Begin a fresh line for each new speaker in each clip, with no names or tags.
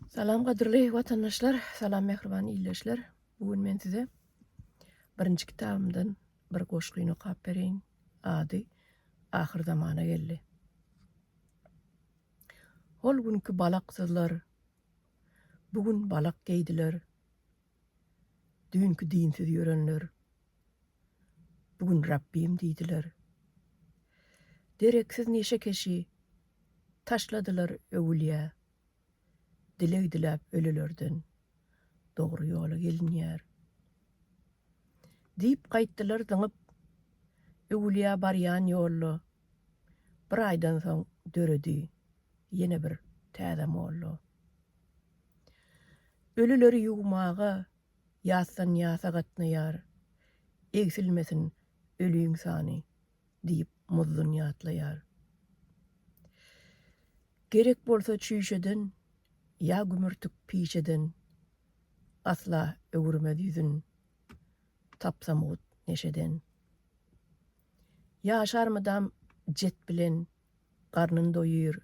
Salam gadyrly watandaşlar, salam mähriban ildeşler. Bu gün men size birinji kitabymdan bir goşgyny okap bereýin. Ady Ahyr zamana geldi. Hol günki balaksyzlar bu gün balak geýdiler. Düýnki dinsiz ýörenler Bu gün Rabbim diýdiler. Dereksiz neşekeşi taşladylar öwülýä. Dileg diläp ölülerden dogry ýola gelinýär. Diýip gaýtdylar zyňyp öwülýä barýan ýolla. Bir aýdan soň döredi ýene bir täze molla. Ölüleri ýuwmaga Ýatdan ýata gatnaýar, egsilmesin ölüň sany, diýip Muzdun ýatlaýar. Gerek bolsa çüýşeden ýa gümürtik piçeden, asla öwürmez ýüzün Tapsamut neşeden. Ýaşar mydam jet bilen, garnyn doýýr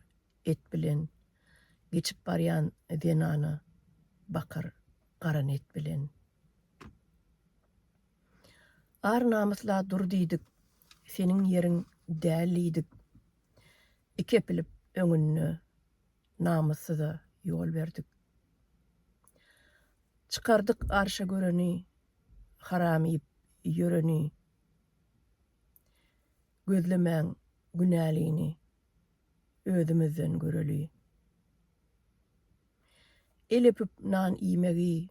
et bilen, geçip barýan zenana bakar garan et bilen. Ar namysla dur diýdik, seniň ýeriň däl diýdik. Iki epilip öňünde namyssyza ýol berdik. Çykardyk arşa göreni, haram iýip ýöreni. Gözlemäň günälini, özümizden göreli. el öpüp nan iýmegi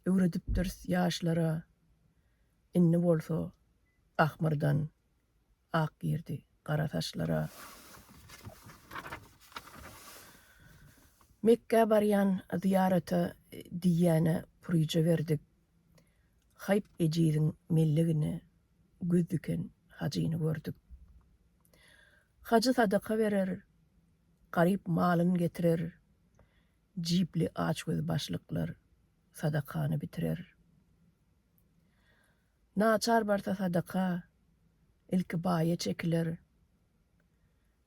öwredipdiris ýaşlara, indi bolsa ahmyrdan ak girdi gara saçlara. Mekgä barýan zyýarata diýýänä puryja berdik, haýp ejiziň mellegine göz diken hajyny gördük. Hajy sadaka berer, Garyp malyn getirer, jipli açgöz başlyklar sadakany bitirer. Naçar barsa sadaka, ilki baýa çekiler.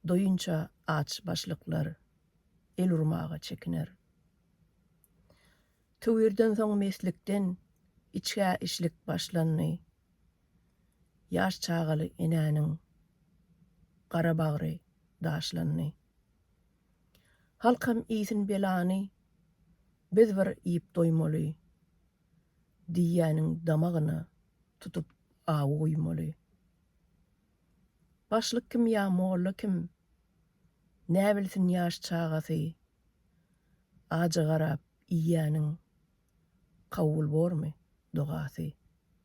Doýunça aç başlyklar el urmaga çekiner. Tüwirden soň meslikden içgä işlik başlandy. Ýaş çagaly enäniň gara bagry daşlandy. Halkam iýsin belany, biz bir iýip doýmaly, diýýäniň damagyna tutup awy guýmaly. Başlyk kim ýa molla kim, näbilsin ýaş çagasy Ajy garap iýýäniň kabul bormy dogasy.